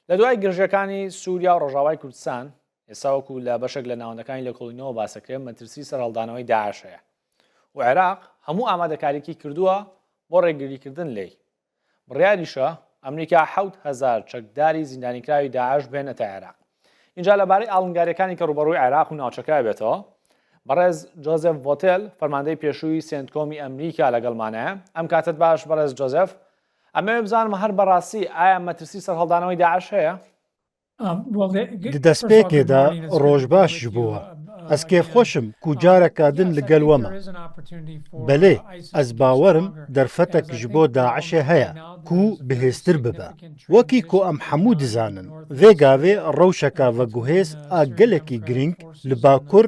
لە دوای گرژیەکانی سووریا و ڕۆژاوای کوردستان ئێستا وەکو لە بەشێک لە ناوەندەکانی لێکۆڵینەوە باسەکرێن مەترسی سەرهەڵدانەوەی داعش هەیە و عێراق هەموو ئامادەکاریکی کردووە بۆ ڕێگریکردن لێی بڕیاریشە ئەمریکا حوت هزار چەکداری زیندانیکراوی داعش بێنێتە عێراق اینجا لەبارەی ئاڵنگاریەکانی کە ڕوبەڕووی عێراق و ناوچەکە بێتەوە بەڕێز جۆزف ڤۆتل فەرماندەی پێشووی سنتکۆمی ئەمریکا لەگەڵمانە ئەم کاتت باش بەڕێز جۆزف ئەمەوێ بزانم هەر بەڕاستی ئایا مەترسی سەرهەڵدانەوەی داعش هەیە؟ ددەسپێکێدا ڕۆژ باشش بووە ئەسکێ خۆشم کوجارەکادن لەگەل وەمە بەلێ ئەس باوەرم دەرفەتەک ژ بۆ داعشێ هەیە کو بهێزتر ببە وەکی کو ئەم حەموو دزانن ڤێگاێ ڕەوشەکە ڤە گوهێز ئا گەلەکی گرینگ لە باکور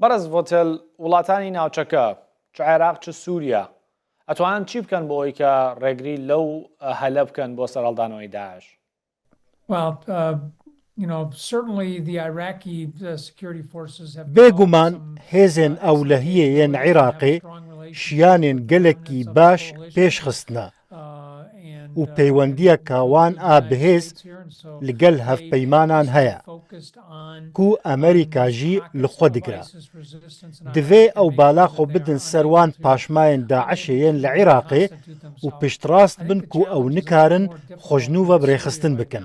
بەڕێز ڤۆتێل وڵاتانی ناوچەکە چ عێراق چ سووریا ئەتوانن چی بکەن بۆ ئەوی کە ڕێگری لەو هەلە بکەن بۆ سەرهەڵدانەوەی داعش بێگومان هێزێن ئەو لە هیەیێن عیراقێ شیانێن گەلەکی باش پێش خستنە و پەیوەندیە کە وان ئا بهێز لگەل هەڤپەیمانان هەیە کو ئەمریکا ژی لخوە دگرە. دڤێ ئەو بالا خۆ بدن سەر وان پاشماێن داعشێ یێن لە عراقێ و پشتڕاست بن کو ئەو نکارن خوەژنووڤە ڕێخستن بکن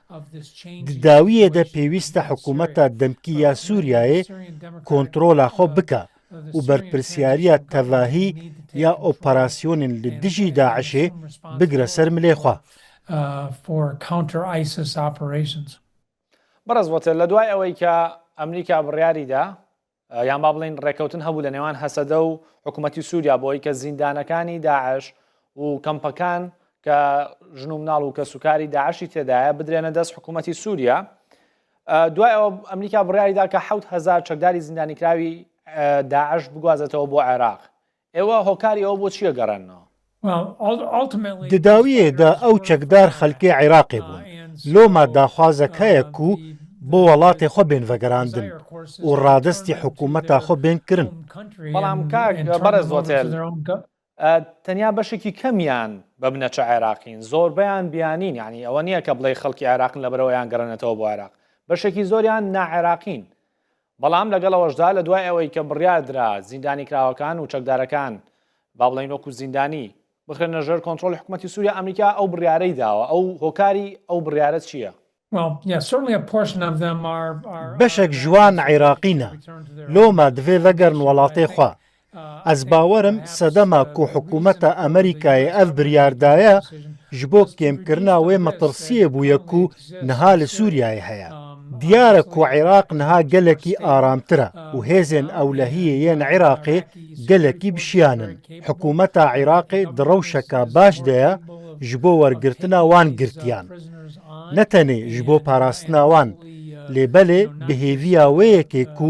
دداویێ دە پێویستە حکوومەتە دەمکی یا سووریایێ کۆنتڕۆلا خۆ بکا و بەرپرسیاریە تەڤاهی یا ئۆپەراسیۆنین لە دژی داعشێ بگرە سەر ملێ خوا. بەڕێز ڤۆتێر، لە دوای ئەوەی کە ئەمریکا بڕیاری دا، یان با بڵێین ڕێکەوتن هەبوو لە نێوان هەسەدە و حکوومەتی سووریا بۆی کە زیندانەکانی داعش و کەمپەکان کە ژن و مناڵ و کە سوکاری داعشی تێدایە بدرێنە دەست حکوومەتی سووریا دوای ئەوە ئەمریکا بڕیاریدا کە حوت هزار چەکداری زیندانیکراوی داعش بگوازێتەوە بۆ عێراق ئێوە هۆکاری ئەوە بۆ چیە گەڕێنەوە؟ دداویێ دە ئەو چەکدار خەلکێ عیراقێ بوون لۆ ما داخوازە کەێە کو بۆ وەڵاتێ خۆ بێن ڤەگەراندن و ڕادەستی حکوومەتا خۆ بێن کرن. بەڵام کاک بەڕێز هۆتێل تەنیا بەشێکی کەمیان بە بنەچە عێراقین زۆربەیان بیانین یعنی ئەوە نییە کە بڵێ خەڵکی عێراقن لەبەرەوەیان گەڕێنێتەوە بۆ عێراق بەشێکی زۆریان ناعێراقین بەڵام لەگەڵ ئەوەشدا لە دوای ئەوەی کە بڕیار درا زیندانیکراوەکان و چەکدارەکان، با بڵێین وەکو زیندانی، بخرێنە ژێر کۆنترۆڵی حکومەتی سوریا، ئەمریکا ئەو بڕیارەی داوە، ئەو هۆکاری ئەو بڕیارە چییە؟ بەشێک ژوان عیراقینە لۆمە دڤێ ڤەگەرن وەڵاتێ خوا، ئەز باوەرم سەدەما کو حکوومەتە ئەمریکایێ ئەڤ بریار دایە ژ بۆ کێم کرنا وێ مەتڕسیێ بویە کو نها لە سوریایێ هەیە. دیارە کو عیراق نها گەلەکی ئارامترە و هێزێن ئەولەهیێ یێن عیراقێ گەلەکی بشیانن. حکوومەتا عیراقێ دڕەوشەکا باش دەێە ژ بۆ وەرگرتنا وان گرتیان. نەتەنێ ژ بۆ پاراستنا وان، لێ بەلێ بهێڤیا وێیەکێ کو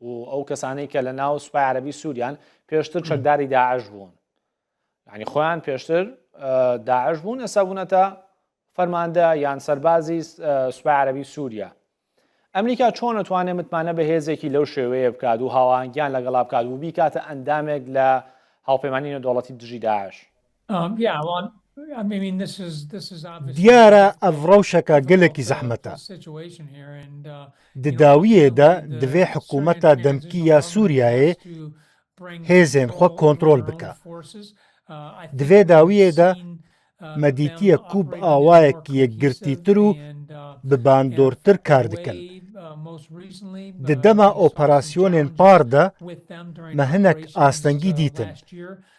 و ئەو کەسانەی کە لە ناو سوپای عربی سووریان پێشتر چەکداری داعش بوون ینی خۆیان پێشتر داعش بوون ئەسا بوونەتە فەرماندە یان سەربازی سوپای عربی سووریا ئەمریکا چۆن نتوانێت متمانە بە هێزێکی لەو شێوەیە بکات و هاوانگیان لەگەڵا بکات و بیکاتە ئەندامێک لە هاوپەیمانانی دەوڵەتی دژی داعش دیارە ئەڤ ڕەوشەکە گەلەکی زەحمەتە. د داویێ دە دڤێ حکوومەتە دەمکی یا سووریایێ هێزێن خوە کۆنترۆل بکا. دڤێ داویێ دە مەدیتیە کووب ئاوایەک یەکگرتیتر و بباندۆرتر کار دکەن. د دەما ئۆپەراسیۆنێن پار دە مەهنەک ئاستەنگی دیتن.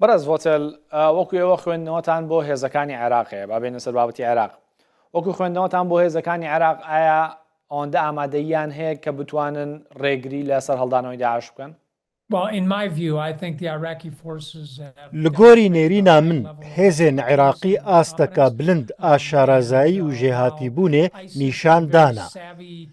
بەڕێز ڤۆتێل وەکو ئێوە خوێندنەوەتان بۆ هێزەکانی عێراقەیە با بێنە سەر بابەتی عێراق وەکو خوێندنەوەتان بۆ هێزەکانی عێراق ئایا ئەوەندە ئامادەیان هەیە کە بتوانن ڕێگری لە سەر هەڵدانەوەی داعش بکەن لە گۆری نێرینا من هێزێن عێراقی ئاستەکە بلند ئا شارازایی و ژێهاتیبوونێ نیشان دانا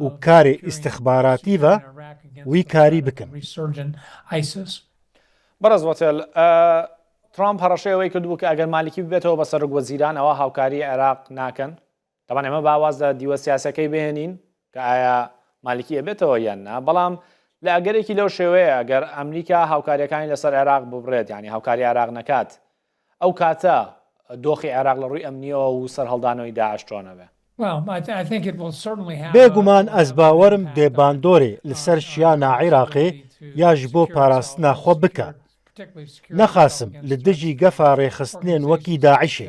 و کارێ ئیستخباراتیڤە وی کاری بکن. بەڕێز وەتێل، ترامپ هەڕەشەی ئەوەی کردبوو کە ئەگەر مالیکی ببێتەوە بە سەرۆک وەزیران ئەوا هاوکاری عێراق ناکەن تەبان ئێمە باواز لە دیوە سیاسەکەی بهێنین کە ئایا مالیکی ئەبێتەوە یان نا بەڵام لە ئەگەرێکی لەو شێوەیە ئەگەر ئەمریکا هاوکاریەکانی لەسەر عێراق ببڕێت ینی هاوکاری عراق نەکات ئەو کاتە دۆخی عێراق لە ڕووی ئەمنییەوە و سەرهەڵدانەوەی داعش چۆنە بێ؟ بێ گومان ئەز باوەرم بێ باندۆرێ لسەر شیانا عێراقێ یاش بۆ پاراستنا خوە بکا نەخاسم لدژی گەفا ڕێخستنێن وەکی داعشێ.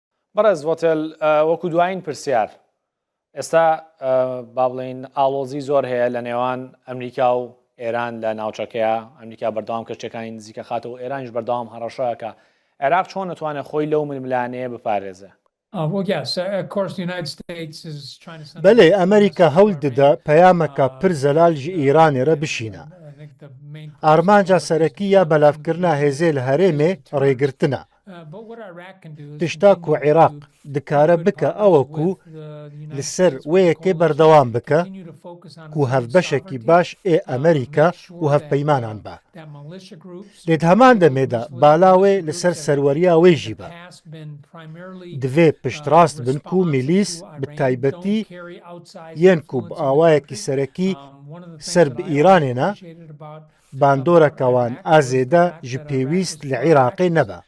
بەڕێز ڤۆتێل وەکو دوایین پرسیار ئێستا با بڵین ئاڵۆزی زۆر هەیە لە نێوان ئەمریکا و ئێران لە ناوچەکەیە ئەمریکا بەردەوام کەشتەکانی نزیکە خاتەوە ئێرانش بەردەوام هەڕەشەکە عێراق چۆن نتوانێت خۆی لەو ململانەیە بپارێزێ بەێ ئەمریکا هەول ددە پەیامەکە پر زەلال ژ ئیرانێرە بشینە ئارمانجا سەرەکی یا بەلافکردنا هێزێ لە هەرێمێ ڕێگرتنە پشتا کو عێراق دکارە بکە ئەوە کو لەسەر وەیەکێ بەردەوام بکە کو هەف بەشێکی باش ئێ ئەمریکا و هەف پەیمانان بە لێت هەمان دەمێدا بالاوێ لەسەر سەروەریا وێژی بە دەێ پشتڕاست بن و میلیس بتایبەتی یەن کوب ئاوایەکی سەرەکی سەر بە ئیرانێنە باندۆرە کەوان ئا زێدە ژ پێویست لە عیراقێ نە بە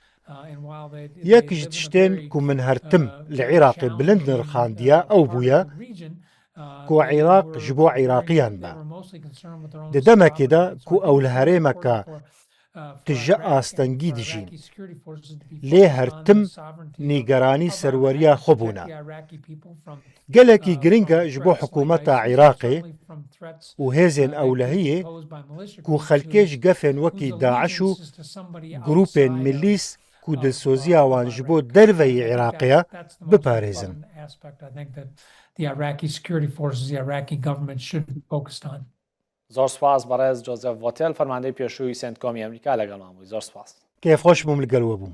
یەک ژ تشتێن کو من هەر تم لە عیراقێ بلند نرخاندیە ئەو بویە کو عیراق ژ بۆ عیراقیان بە دە دە مە کێ دە کو ئەو لە هەرێ مە کە تژە ئاستەنگی دژین لێ هەر تم نیگەرانی سەروەریا خۆ بونە. گەلەکی گرنگە ژ بۆ حکوومەتە عیراقێ و هێزێن ئەولەهەیێ کو خەلکێژ گەفێن وەکی داعش و گرووپێن ملیس کو دلسۆزیاوان ژ بۆ دەرڤەی عیراقێە بپارێزن. زۆر سوپاس بەڕێز جۆزێف ڤۆتێل فەرماندەی پێشووی سێنتکۆمی ئەمریکا لەگەڵمان بووی زۆر سوپاس. کێفخۆش بووم لگەل وە بووم.